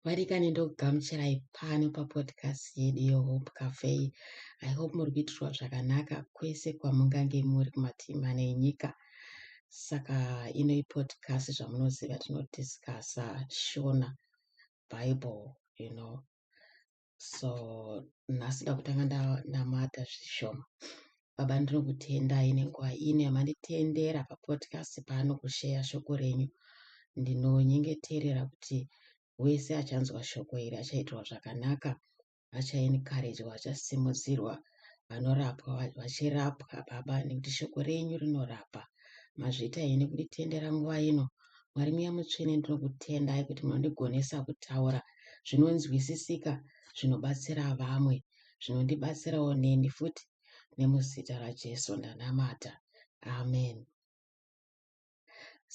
varikani ndokugamuchirai pano papodcast yedu yehope cafe i hope muri kuitirwa zvakanaka kwese kwamungange muri kumativi mane enyika saka ino ipodcast zvamunoziva tinodiscasa shona bible you know so nhasi ndakutanga ndamata zvishoma baba ndinokutendai nenguva ino yamanditendera papodcast pano kusheya shoko renyu ndinonyengeterera kuti wese achanzwa shoko iri achaitirwa zvakanaka achaencouragwa achasimudzirwa vanorapwa vachirapwa baba nekuti shoko renyu rinorapa mazvita henyu nekunditendera nguva ino mwari muya mutsvene ndinokutendai kuti munondigonesa kutaura zvinonzwisisika zvinobatsira vamwe zvinondibatsirawo neni futi nemuzita rajesu ndanamata amen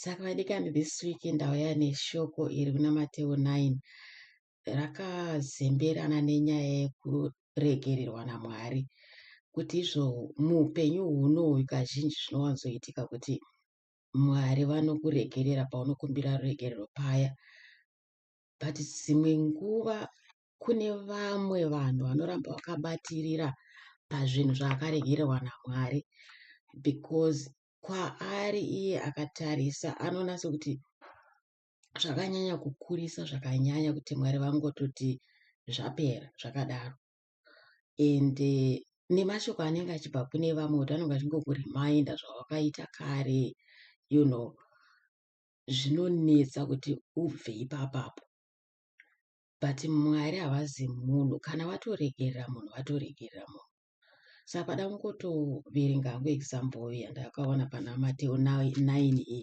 saka vadikani this week ndauya neshoko iri kuna mateo 9 rakazemberana nenyaya yekuregererwa naMwari kuti izvo muupenyu hunoyu kazhinji zvinowanzoitika kuti Mwari vanokuregerera paunokumbira ruregerero paya but dzimwe nguva kune vamwe vanhu vanoramba vakabatirira pazvinhu zvaakaregererwa naMwari because kwaari iye akatarisa anonatsa kuti zvakanyanya kukurisa zvakanyanya kuti mwari vangototi zvapera zvakadaro and eh, nemashoko anenge achibva kune vamwe kuti anenge achingokuriminder zvawakaita kare you know zvinonetsa kuti ubve ipapapo but mwari havazi munhu kana vatoregerera munhu vatoregerera munhu saka pada kungotoverenga hangu example yandakaona pana mateo 9 iyi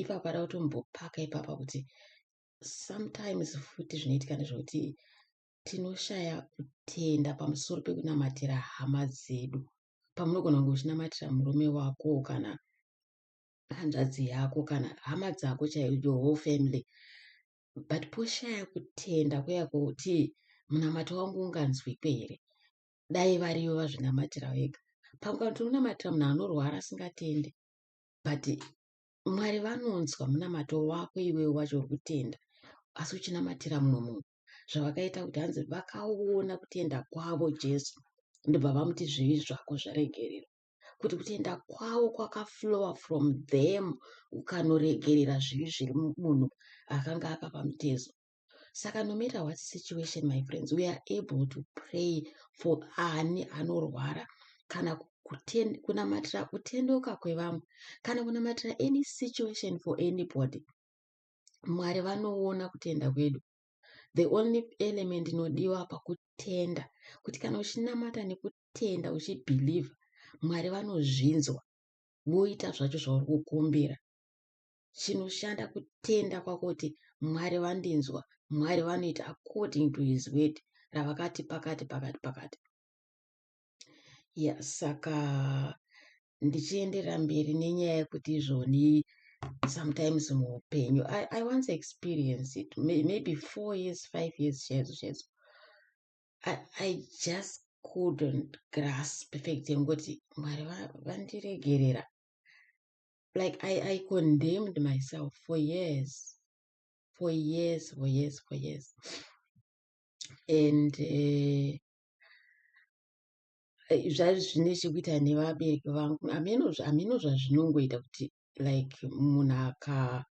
ipapo ada kutombopaka ipapa kuti sometimes futi zvinoitika nezvekuti tinoshaya kutenda pamusoro pekunamatira hama dzedu pamunogona kunge uchinamatira murume wako kana hanzvadzi yako kana hama dzako chaiyo your whole family but poshaya kutenda kuya kwekuti munamato wangu unganzwikwe here dai variyo vazvinamatira vega pamukana tinonamatira munhu anorwara asingatende but mwari vanonzwa munamato wako iwewe wacho uri kutenda asi uchinamatira mumwe munhu zvavakaita kuti hanzi vakaona kutenda kwavo jesu ndobva vamuti zvivi zvako zvaregererwa kuti kutenda kwavo kwakaflowa from them ukanoregerera zvivi zviri munhu akanga akapa mutezo saka no matter what situation my friends we are able to pray for ani anorwara kana kunamatira kutendoka kwevamwe kana kunamatira any situation for anybody mwari vanoona kutenda kwedu the only element inodiwa pakutenda kuti kana uchinamata nekutenda uchibhilivha mwari vanozvinzwa voita zvacho zvauri kukumbira chinoshanda kutenda kwakuti mwari vandinzwa mwari vanoita according to his word ravakati pakati pakati pakati ya saka ndichienderera mberi nenyaya yekuti izvoni sometimes muupenyu I, i once experience it maybe four years five years chaizvo chaizvo I, i just couldn't grasp fact yengoti mwari vandiregerera like I, I condemned myself for years for years for years for years and uh, zvaive zvine chekuita nevabereki vangu hameno zvazvinongoita kuti like munhu aka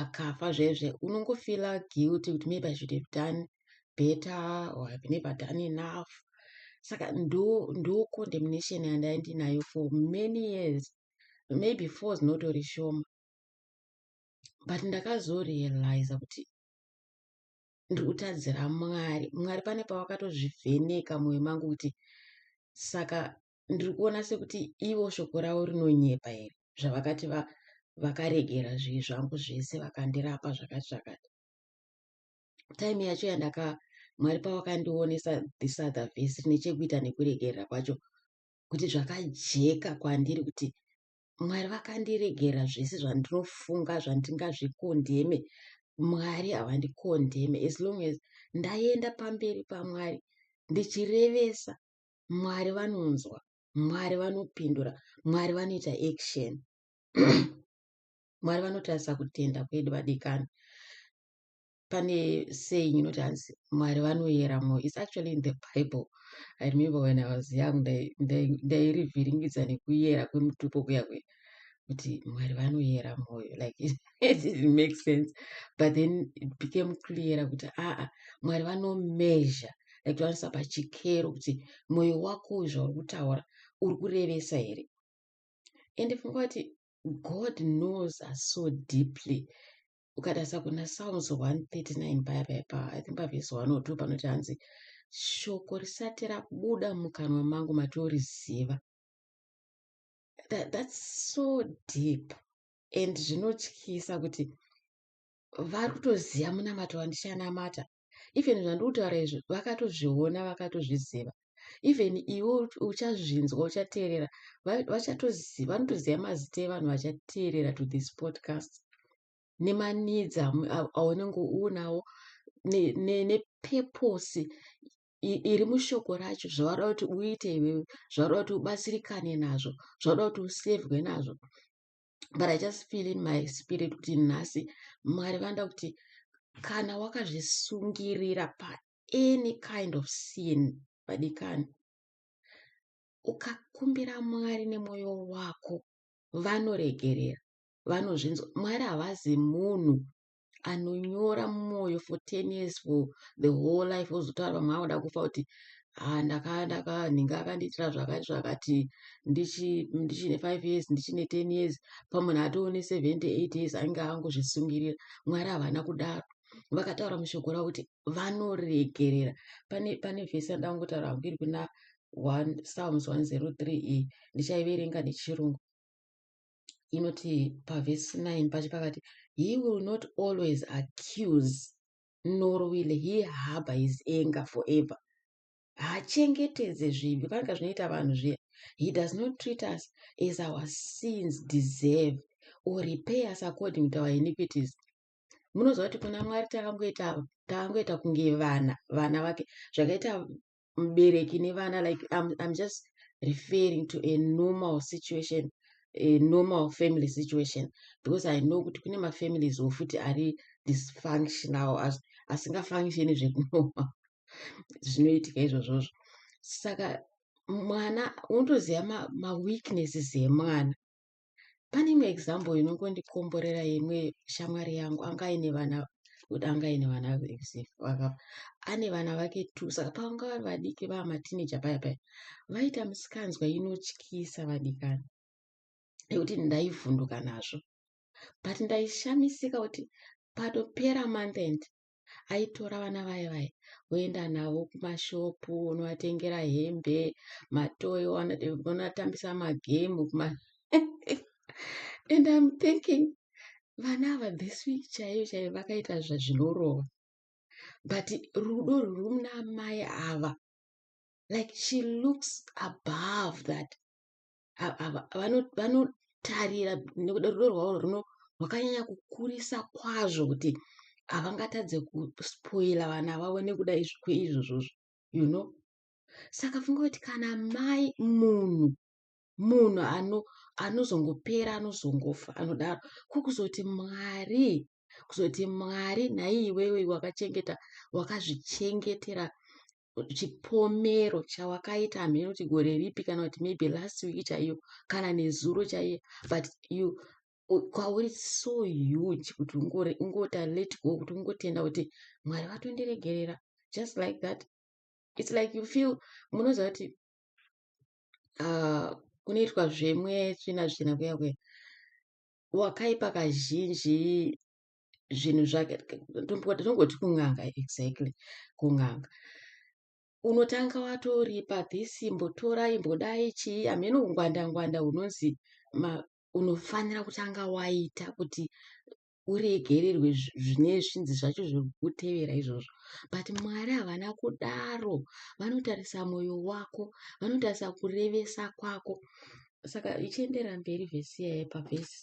akafa zvaizve unongofila guilty kuti maybe i should have done better or have never done enough saka ndo ndo condemnation yandaindinayo for many years maybe four dzinotori shoma but ndakazorealiza kuti ndiri kutadzira mwari mwari pane pavakatozvivheneka mwoyo mangu kuti saka ndiri kuona sekuti ivo shoko ravo rinonyepa here zvavakati vakaregera zvivi zvangu zvese vakandirapa zvakati zvakati time yacho yandaka mwari pavakandionesa this other vhesi nechekuita nekuregerera kwacho kuti zvakajeka kwandiri kuti mwari vakandiregera zvese zvandinofunga zvandingazvikondeme mwari havandikondeme as long as ndaienda pamberi pamwari ndichirevesa mwari vanonzwa mwari vanopindura mwari vanoita action mwari vanotarisa kutenda kwedu vadikani pane saying inoti hanzi mwari vanoyera mwoyo its actually in the bible i remember when i was young ndairivhiringidza nekuyera kwemutupo kuya kuya kuti mwari vanoyera mwoyo like it didn't make sense but then it became clear kuti aa mwari vanomeasure like towanisa pachikero kuti mwoyo wako uyu zvauri kutaura uri kurevesa here ende funga kuti god knows us so deeply ukatarisa kuna psalms 139 paya paya pa i think pavhesi 102 panoti hanzi shoko risati rabuda mukanwa mangu matoriziva that, that's so deep and zvinotyisa kuti vari kutoziva munamato wandichanamata even zvandiri kutaura izvi vakatozviona vakatozviziva even iwe uchazvinzwa uchateerera vachatoziva vanotoziva mazita evanhu vachateerera to this podcast nemanidzi aunenge uunawo nepurpose iri mushoko racho zvavada kuti uite iwewe zvavada kuti ubatsirikane nazvo zvavada kuti usevhwe nazvo but i just feel in my spirit kuti nhasi mwari vanoda kuti kana wakazvisungirira paany kind of sin vadikani ukakumbira mwari nemwoyo wako vanoregerera vanozvinzwa mwari havazi munhu anonyora mumwoyo for 10 years for the whole life ozotaura vamwe vanoda kufa kuti ah, ndakandaka nhinga akandiitira zvakati zvakati ndichine 5 years ndichine 10 years pamunhu atoone 78 years ainge angozvisungirira mwari havana kudaro vakataura mushoko ravo kuti vanoregerera pane pane vhesi yandida kungotaura hangu iri kuna psalms 103 iyi ndichaiverenga nechirungu inoti pavhesi 9 pacho pakati he will not always accuse nor will he harbour his anger forever haachengetedze zvivi panenge zvinoita vanhu zviya he does not treat us as our sins deserve or repay us according to our iniquities munoziva kuti kuna mwari takangoita takangoita kunge vana vana vake zvakaita mubereki nevana like I'm, I'm just referring to a normal situation a normal family situation because i know kuti kune mafamilies wofuti ari dysfunctional asingafunctioni zvekunoa zvinoitika izvozvozvo saka mwana unotoziva maweaknesses ma emwana pane imwe example inongondikomborera imwe shamwari yangu anga aine vana kuti anga aine vana vakapa ane vana vake two saka pavanga vari vadiki vaa matineja paya paya vaita misikanzwa inotyisa vadikani nekuti ndaivhunduka nazvo but ndaishamisika kuti patopera month end aitora vana vaye vaye oenda navo kumashopu onovatengera hembe matoyo onatambisa magemu kuma and im thinking vana ava this week chaiyo chaiyo vakaita zvazvinorova but rudo rwuri muna amai ava like she looks above that vanotarira nekuda rudo rwavo runo rwakanyanya kukurisa kwazvo kuti havangatadze kuspoila vana vavo nekuda kweizvozvozvo you know saka funga kuti kana mai munhu munhu ano anozongopera anozongofa anodaro ko kuzoti mwari kuzoti mwari nhai iwewe wakachengeta wakazvichengetera chipomero chawakaita hameno kuti gore ripi kana kuti maybe last week chaiyo kana nezuro chaiye but you kwauri so huge kuti ungota let go kuti ungotenda kuti mwari vatondiregerera just like that its like you feel munoziva kuti uh, kunoitwa zvemwe tsvina tsvina kuya kuya wakaipa kazhinji zvinhu zvake tongoti kun'anga exactly kun'anga unotanga watoripa this imbotora imbodai chii hameno ungwanda ngwanda hunonzi unofanira kutanga waita kuti uregererwe zvine zvinzi zvacho zvekutevera izvozvo but mwari havana kudaro vanotarisa mwoyo wako vanotarisa kurevesa kwako saka ichiendera mberi vhesi yaye pavhesi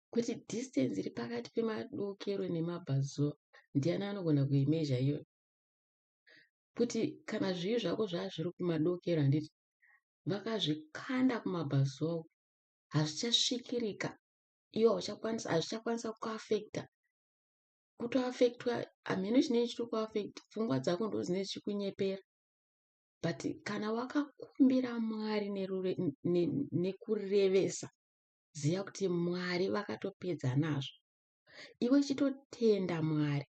kuti distance iri pakati pemadokero nemabvazuva ndiani anogona kuimezha iyo kuti kana zvivi zvako zvaazviri kumadokero handiti vakazvikanda kumabvazuva uku hazvichasvikirika iwe hauchakwanisa hazvichakwanisa kuafekta kutoafektwa hamheno chinei chiri kuafekta pfungwa dzako ndo dzinei zvichikunyepera but kana wakakumbira mwari nekurevesa ne, ne ziva kuti mwari vakatopedza nazvo iwe chitotenda mwari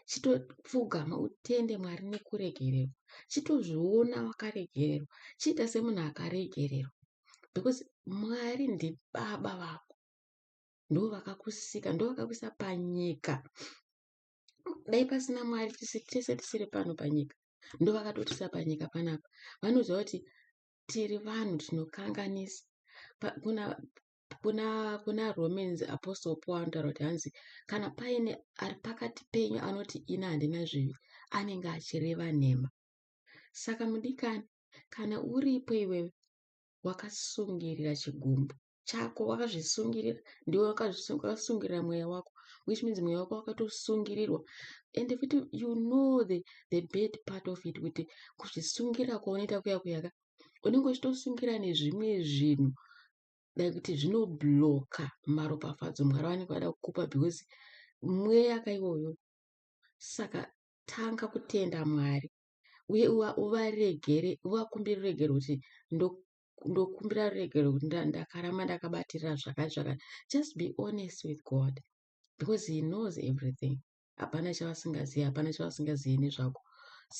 chitopfugama utende mwari nekuregererwa chitozviona wakaregererwa chiita semunhu akaregererwa because mwari ndibaba vako ndo vakakusika ndo vakakuisa panyika dai pasina mwari tese tisiri pano panyika ndo vakatotisa panyika panapa vanoziva kuti tiri vanhu tinokanganisa kuna kuna kuna romans apostle paul anotaura kuti hanzi kana paine ari pakati penyu anoti ini handina zvivi anenge achireva nhema saka mudikani kana uripo iwewe wakasungirira chigumbu chako wakazvisungirira ndiwe wakasungirira mweya wako which means mweya wako wakatosungirirwa and futi you know the, the bad part of it kuti kuzvisungira kwaunoita kuya kuyaka unenge uchitosungira nezvimwe zvinhu dai kuti zvinobloka maropafadzo mwari vanenge vada kukupa because mweya kaiwoyo saka tanga kutenda mwari uye uvaregere uvakumbire ruregero kuti kundokumbira ruregerero kuti ndakaramba ndakabatirira zvakati zvakati just be honest with god because he knows everything hapana chavasingazivi hapana chavasingazivi nezvako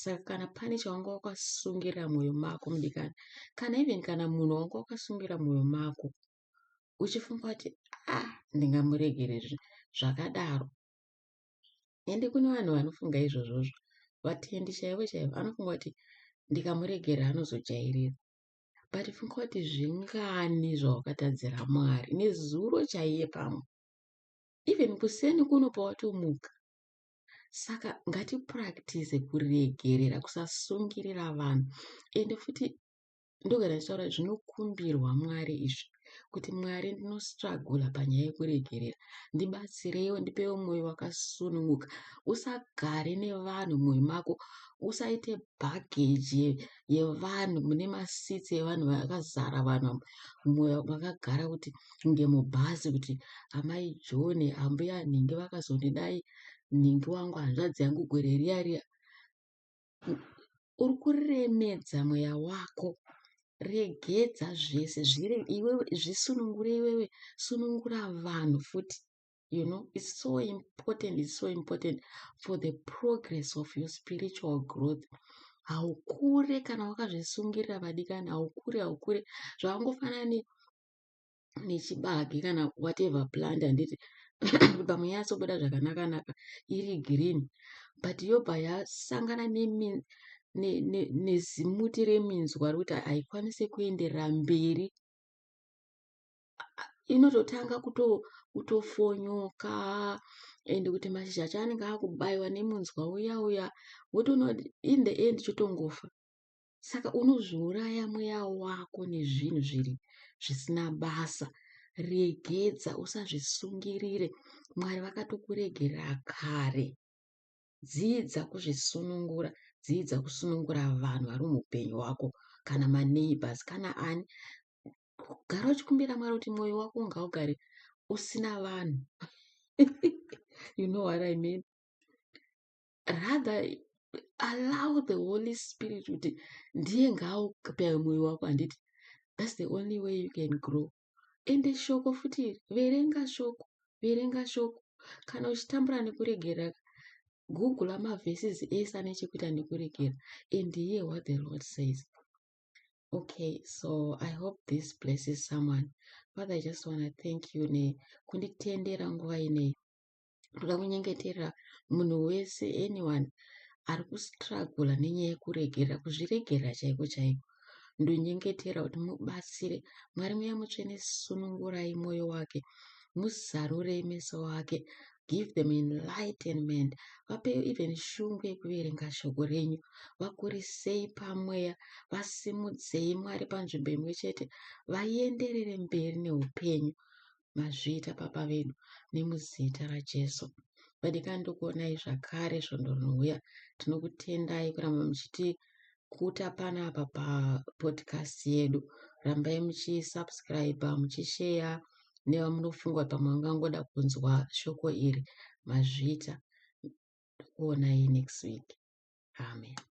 saka kana pane chawanga wakasungirira mwoyo mako mudikani kana even kana munhu wanga wakasungirira mwoyo mako uchifunga kuti ah ndingamuregere zvakadaro ende kune vanhu vanofunga izvozvozvo vatendi chaivo chaivo anofunga kuti ndikamuregera anozojairira but funga kuti zvingani zvawakatadzira mwari nezuro chaiye pamwe even kuseni kuno pawatomuka saka ngatipractice kuregerera kusasungirira vanhu ende futi ndogara ndichitaura zvinokumbirwa mwari izvi kuti Mwari ndinostragula panyaya yekuregerera ndibatsireiwo ndipewo mwoyo wakasununguka usagare nevanhu mumwoyo mako usaite bhageji yevanhu mune masitsi evanhu vakazara vanhu mwoyo makagara kuti kunge mubhazi kuti amai john ambuya nhingi vakazondidai nhingi wangu hanzvadzi yangu gwere riya riya uri kuremedza mweya wako regedza zvese zviri iwewe zvisunungure iwewe sunungura vanhu futi you know it's so important it's so important for the progress of your spiritual growth haukure kana wakazvisungirira vadikani haukure haukure zvakangofanana ne nechibage kana whatever plant handiti pamwe yatsobuda zvakanaka naka iri green but yobva yasangana nezimuti reminzwa rekuti haikwanise kuenderera mberi inototanga kutofonyoka and kuti mashizha acho anenge akubayiwa nemunzwa uya uya wotoona kuti in the end chotongofa saka unozviuraya mweya wako nezvinhu zviri zvisina basa regedza usazvisungirire mwari vakatokuregerera kare dzidza kuzvisunungura dzidza kusunungura vanhu vari muupenyu hwako kana maneighbors kana ani gara uchikumbira mwari kuti mwoyo wako ngaugare usina vanhu you know what i mean rather allow the holy spirit kuti ndiye ngaaukapewe mwoyo wako handiti thats the only way you can grow ende shoko futi verenga shoko verenga shoko kana uchitambura nekuregera google amavhesis ese ane chekuita nekuregera and hear what the lord says okay so i hope this blesses someone father i just want to thank you nekunditendera nguva inei Ndoda kunyengeterera munhu wese anyone ari kustruggle nenyaya yekuregerera kuzviregerera chaiko chaiko ndonyengetera kuti mubatsire mwari muya mutsvene sunungurai mwoyo wake muzarurei meso wake give them enlightenment vape even shungu yekuverenga shoko renyu vakurisei pamweya vasimudzei mwari panzvimbo imwe chete vaenderere mberi neupenyu mazviita baba vedu nemuzita raJesu. Vadikani ndokuonai zvakare svondo rinouya. Tinokutendai kuramba muchiti kuta pana apa papodcast yedu. Rambai muchisubscribe, muchisheya nevamunofunga kuti pamwe vangangoda kunzwa shoko iri. Mazviita. Ndokuonai next week. Amen.